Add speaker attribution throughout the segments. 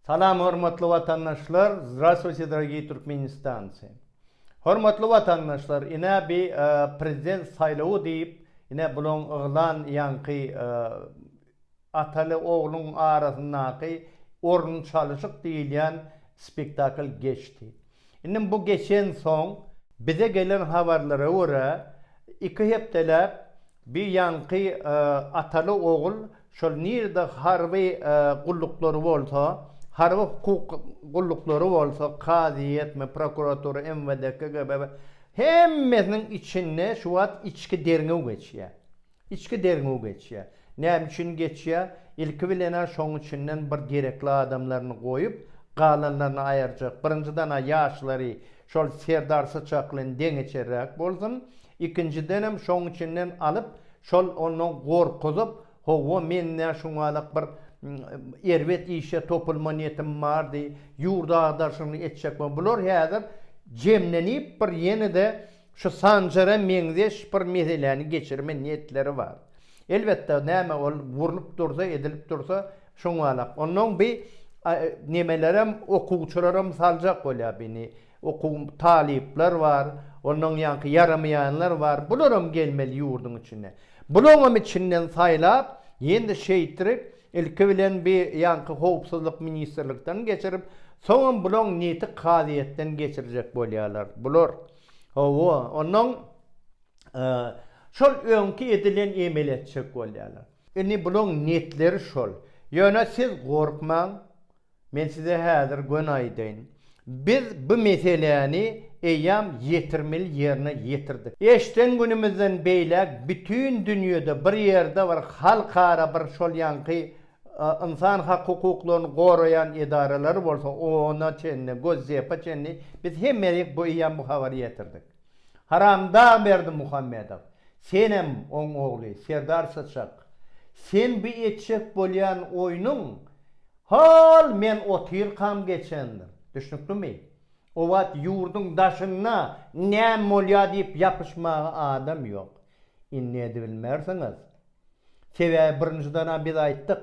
Speaker 1: Salam hormatly watandaşlar Zdravstvuyte dragii Turkmenistanci Hormatly watandaşlar ine bi prezident saýlawy diýip ine bulaň yglan ýaňky ataly ogluň arasyndaky orun çalyşyk diýilýän spektakl geçdi. Indi bu geçensoň, bize gelen habarlara görä, iki hepdeläp bir ýaňky ataly-ogul şol nirede harby gulluklary bolsa, harby hukuk gulluklary bolsa, kazyýetmi, prokuratura, MWD, KGB, hemmesiniň içinde şu wagt içki derňew geçýär. Içki derňew geçýär. Näme üçin geçýär? Ilki bilen-ä şoň içinden bir gerekli adamlaryny goýup, galanlaryny aýyrjak. Birinjiden-ä ýaşlary şol Serdar Syçak bilen deňeçerräk bolsun. Ikinjidenem şoň içinden alyp, şol onda gorkuzyp, Hawa, men-ä şuňalak bir erbet işe topulma niýetim bardy, ýurdy agdaryşyny etjekmi? Bular häzir jemlenip bir ýene-de Şu Sanjara meňzeş bir meseläni geçirme niýetleri bar. Elbetde, näme ol gurlup dursa, edilip dursa, şoň wala. Onnoň bi nemelerem, okuwçylaram saljak bolýar bini. Okuw, talyplar bar, onnoň ýaňky ýaramaýanlar bar. Bularam gelmeli ýurduň içine. Bulaňam içinden saýlap, ýene-de şeýtirip, Ilki bilen bi ýanky howpsuzlyk ministrlikden geçirip, soňam bulaň niti kazyýetden geçirjek bolýarlar. Bular, hawa, onnoň şol öňki edilen emeli etjek bolýarlar. Indi bulaň netleri şol. Ýöne siz gorkmaň, Men size häzir göni aýdaýyn. Biz bu meseläni eýýäm ýetirmeli ýerine ýetirdik. Eşden günümizden beýläk bütin dünýede bir ýerde bir halkara bir şol ýaňky ynsan hak hukuklaryny goraýan edaralary bolsa ona çenli, Gosdepa çenli biz hemmelik bu eýýäm bu habary ýetirdik. Haramdag Berdimuhamedow, senem oň ogly Serdar Syçak, sen bu etjek bolýan oýnuň hol men otyrkam geçendir. Düşnüklimi? O wagt ýurduň daşynda näme bolýar diýip ýapyşmaga adam ýok. Indi edibilmersiňiz. Sebäbi birinjiden-ä biz aýtdyk,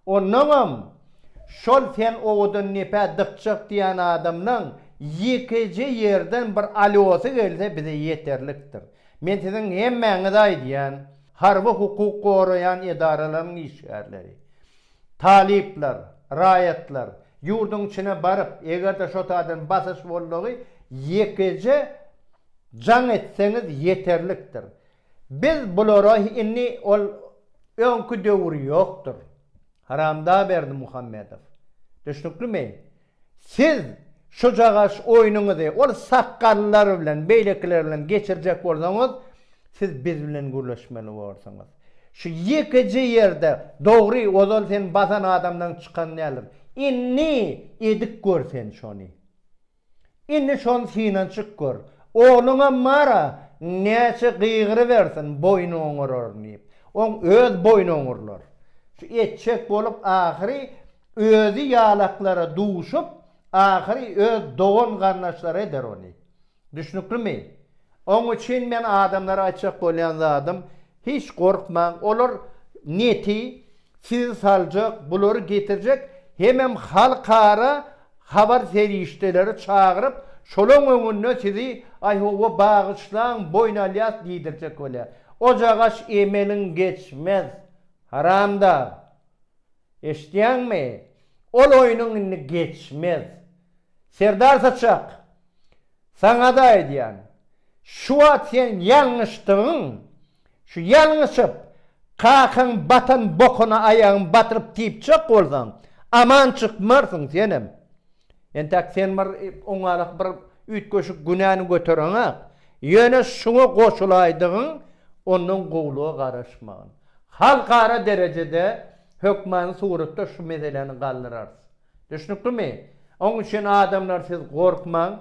Speaker 1: Onnoňam, şol sen owadan nepä dykjak diýän adamlaň ýekeje ýerden bir alýosy gelse bize ýeterlikdir. Men siziň hemmäňize aýdýan, harby hukuk goraýan edaralaryň işgärleri, talyplar, raýatlar, ýurduň içine baryp, eger-de şo taýdan basyş boldugy ýekeje jaň etseňiz ýeterlikdir. Biz bulara indi ol öňki döwür ýokdur. Haramdag Berdimuhamedow. Düşnüklimi? Siz şujagaş oýnuňyzy ol sakgallylar bilen, beýlekiler bilen geçirjek bolsaňyz, siz biz bilen gürleşmeli borsuňyz. Şu ýekeje ýerde dogry, ozal sen basan adamdan çykan däldir. Indi edip gör sen şony. Indi şony synanyşyp gör. Ogluňam bar-a, näçe gygyrybersin, boýny oňararyn diýip. Oň öz boýny oňurlar. Şu etjek bolup ahyry özi ýalaklara duşup, ahyry öz dogan-garyndaşlary eder ony. Düşnüklimi? Oň üçin men adamlara aýtjak bolýan zadym, Hiç gorkmaň olar neti sizi saljak bulary getirjek hemem halkara habar serişdeleri çagyryp şolaň öňünde sizi aý howwa bagyşlaň boýun alýas diýdirjek bolýar ojagaş emeliň geçmez haramdag eşitýäňmi ol oýnuň indi geçmez Serdar saçak Saňada aýdýan, şu wagt sen ýalňyşdygyň, şu ýalňyşyp, kakaň batan bokuna aýagyň batyryp typjak bolsaň, aman çykmarsyň senem. Entäk sen bir oňarak bir üýtgeşik günäni götereňak. Ýöne şuňa goşulaýdygyň, ondan gowulyga garaşmagyn. Halkara derejede hökmany suratda şu meseläni galdyrarys. Düşnüklimi? Oň üçin adamlar siz gorkmaň,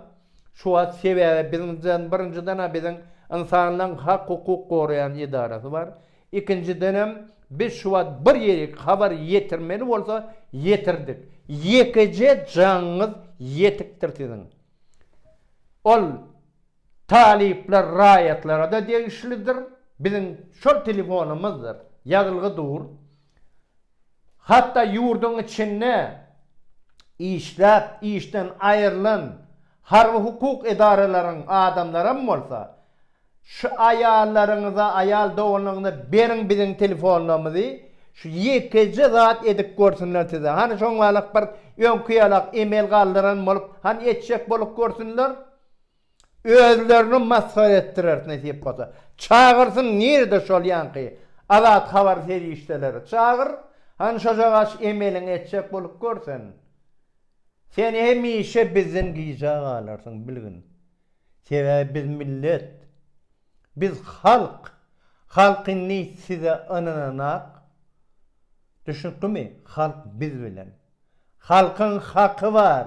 Speaker 1: şu wagt sebäbi biziňden birinjiden-ä biziň ynsanlaň hak hukuk goraýan edarasy bar, ikinjidenem biz şu wagt bir ýerik habar ýetirmeli bolsa ýetirdik, ýekeje jaňyňyz ýetikdir siziň. Ol talyplar raýatlara-da degişlidir, biziň şol telefonymyzdyr, ýazylgy dur. Hatda ýurduň içinde işläp, işden aýrylan harby-hukuk edaralaryň adamlaram bolsa, Şu aýallaryňyza, aýal doganlaryňyza beriň biziň telefonlarymyzy, şu ýekeje zat edip görsünler size. Hany şoňlalak bir öňki ýalak emel galdyran bolup, hany etjek bolup görsünler. Özlerini masgara etdirer nesip bolsa. Çagyrsyn nirede şol ýanky azat habar serişdeleri çagyr han şojagaç emeliňi etjek bolup gör sen. Sen hemişe bizden gija galarsyň bilgin. Sebäbi biz millet. Biz halk. Halk indi size ynananak. Düşnüklimi? Halk biz bilen. Halkyň haky bar.